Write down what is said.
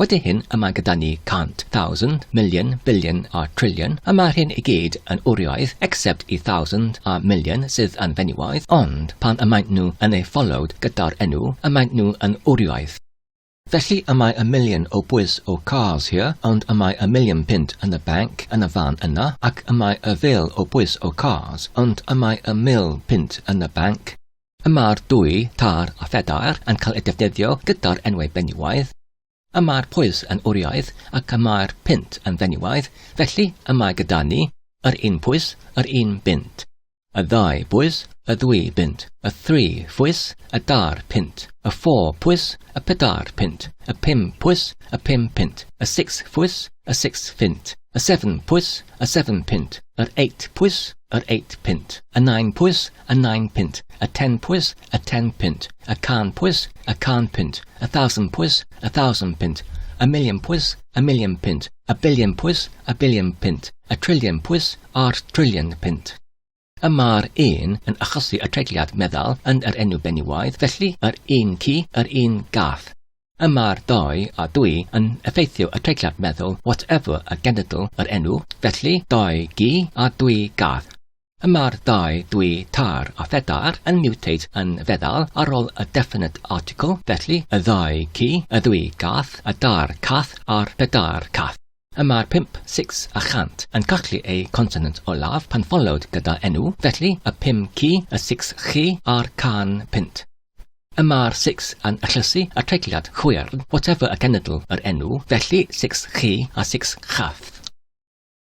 Wedi hyn, y mae gyda ni cant, thousand, million, billion a trillion, y mae'r hyn i gyd yn wrioedd, except y thousand a million sydd yn fenywaidd, ond pan y maent nhw yn eu followed gyda'r enw, y maent nhw yn wrioedd. Felly y mae y million o bwys o cars here, ond y mae y million punt yn y banc yn y fan yna, ac y mae y fil o bwys o cars, ond y mae y mil punt yn y banc, Y mae'r dwy, tar a phedair, yn cael eu defnyddio gyda'r enwau benywaidd. Y mae'r pwys yn wriaidd ac y mae'r punt yn fenywaidd, felly y mae gyda ni, yr un pwys, yr un bunt. Y ddau bwys, y ddwy bunt, y thri phwys, y dair punt, y ffôr pwys, y pedair punt, y pum pwys, y pum punt, y six phwys, y six phint, y seven pwys, y seven punt, yr eight pwys, yr eight punt, y nine pwys, a nine pint, a ten pwys, a ten pint, a can pwys, a can pint, a thousand pwys, a thousand pint, a million pwys, a million pint, a billion pwys, a billion pint, a trillion pwys, a'r trillion pint. Y mae'r un yn achosi y treigliad meddal yn yr enw benywaidd, felly yr un ci, yr un gath. Y mae'r doi a dwy yn effeithio y treigliad meddal, whatever a genedl yr enw, felly doi gi a dwy gath. Y mae'r ddau dwy tair a phedair yn mutate yn feddal ar ol y definite article, felly, y ddau ci, y ddwy gath, y dair cath a'r pedair cath. Y mae'r pump, six, a chant yn cachlu eu consonant olaf pan followed gyda enw, felly, y pum ci, y six chi, a'r can punt. Y mae'r six yn achlysu y treigliad chwyrn, whatever y cenedl yr enw, felly, six chi a six chath.